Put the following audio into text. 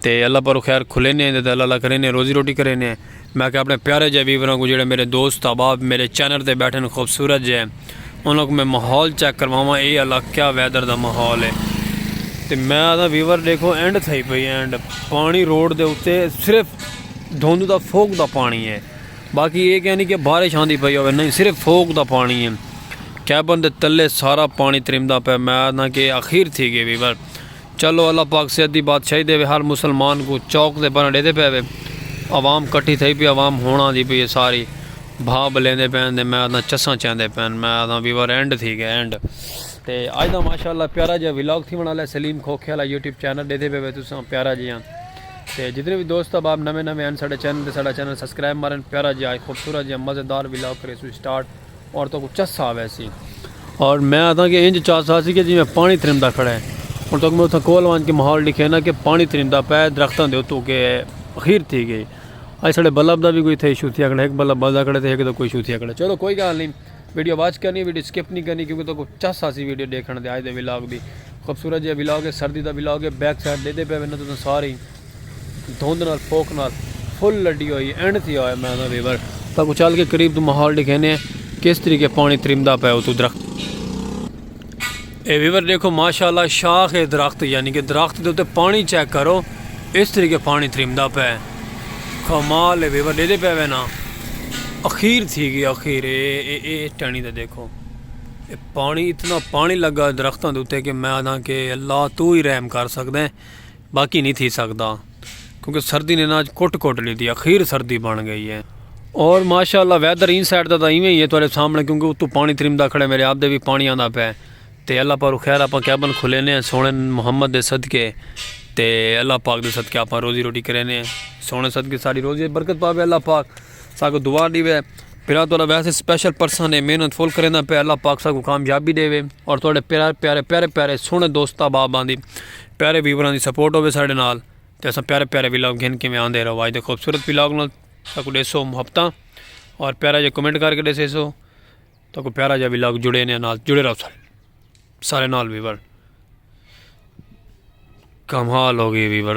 تے اللہ پاروں خیر کھلینے ہیں تے اللہ اللہ کرینے ہیں روزی روٹی کرینے ہیں میں کہ اپنے پیارے جے ویوراں کو جڑے میرے دوست احباب میرے چینل تے بیٹھن خوبصورت جے انہاں کو میں ماحول چیک کرواواں اے اللہ کیا ویدر دا ماحول ہے تے میں آدھا ویور دیکھو اینڈ تھئی پئی اینڈ پانی روڈ دے اتے صرف دھوند دا فوک دا پانی ہے باقی یہ کہہ نہیں کہ بارش آندی پئی ہوئے نہیں صرف فوک دا پانی ہے کیبن دے تلے سارا پانی ترمدا پہ میں آدھا کہ اخیر تھی گئے ویور چلو اللہ پاک صحت دی بادشاہی دیوے ہر مسلمان کوں چوک تے بنڑ ڈیدے پئے وے عوام کٹھی تھئی پی عوام ہنڑ آندی پئی ہے ساری بھا بلیندے پین تے میں آدھاں چساں چیندے پین میں آدھاں وی ور اینڈ تھی گئے اینڈ تے اج دا ماشاءاللہ پیارا جیا ولاگ تھیون آلا ہے سلیم کھوکھے آلا یوٹیوب چینل ڈیدے پئے وے تساں پیارا جیا تے جتنے وی دوست احباب نویں نویں ہن ساڈے چینل تے ساڈا چینل سبسکرائب مارن پیارا جیا خوبصورت جیا مزیدار ولاگ کریسوں سٹارٹ عورتوں کو چس آ وے سی اور میں آتا کہ انج چس آ سی کہ جی میں پانی ترمدا کھڑا ہے اور تک میں اتھا کول وان کے ماحول دکھے نا کہ پانی ترمدا پے درختوں دے اتو کے خیر تھی گئی اج سڑے بلب دا بھی کوئی تھے ایشو تھیا کھڑا ایک بلب بلدا کھڑا تھے ایک دا کوئی ایشو تھیا کھڑا چلو کوئی گال نہیں ویڈیو واچ کرنی ویڈیو سکپ نہیں کرنی کیونکہ تو کو چس آ سی ویڈیو دیکھنا دے آج دے ویلاگ دی خوبصورت جی ویلاگ ہے سردی دا ویلاگ ہے بیک سائڈ دے دے پے وینا تو سارے دھند نال پوک نال فل لڈی ہوئی اینڈ تھی ہوئے میں نہ ریور تاکو چل کے قریب تو ماحول دکھینے کس طریقے پانی ترمدا پے تو درخت اے ویور دیکھو ماشاءاللہ شاخ ہے درخت یعنی کہ درخت دے تے پانی چیک کرو اس طریقے پانی ترمدا پے کمال ہے ویور دے دے پے نا اخیر تھی گیا اخیر اے اے اے ٹانی دے دیکھو اے پانی اتنا پانی لگا درختاں دے تے کہ میں آدھاں کہ اللہ تو ہی رحم کر سکدے باقی نی تھی سگدا کیونکہ سردی نے ناج کٹ کٹ ڈیتی اخیر سردی بن گئی ہے اور ماشاءاللہ ویدر این سائیڈ دا ایویں ہی ہے تہاڈے سامنے کیونکہ اتو پانی ترمدا کھڑے میرے آپ دے بھی پانی آندا پے تے اللہ پاک خیر اپا کیبن کھلے نے سونے محمد دے صدقے تے اللہ پاک دے صدقے اپا روزی روٹی کرے نے سونے صدقے ساری روزی برکت پاوے اللہ پاک ساکو دعا دیوے پھر تو ویسے سپیشل پرسن نے محنت فل کرے پہ اللہ پاک ساکو کامیابی دیوے اور تہاڈے پیارے پیارے پیارے پیارے سونے دوست بابا دی پیارے ویوراں دی سپورٹ ہوے ساڈے نال تے اساں پیارے پیارے ولاگ گھن کے میں آندے رہو اج دے خوبصورت ولاگ نال ساکو ڈیسو محبتاں اور پیارا جا کمنٹ کر کے ڈیسے سو تاکو پیارا جا ولاگ جڑے نے نال جڑے رہو سارے سارے نال ویور کمال ہو گئی ویور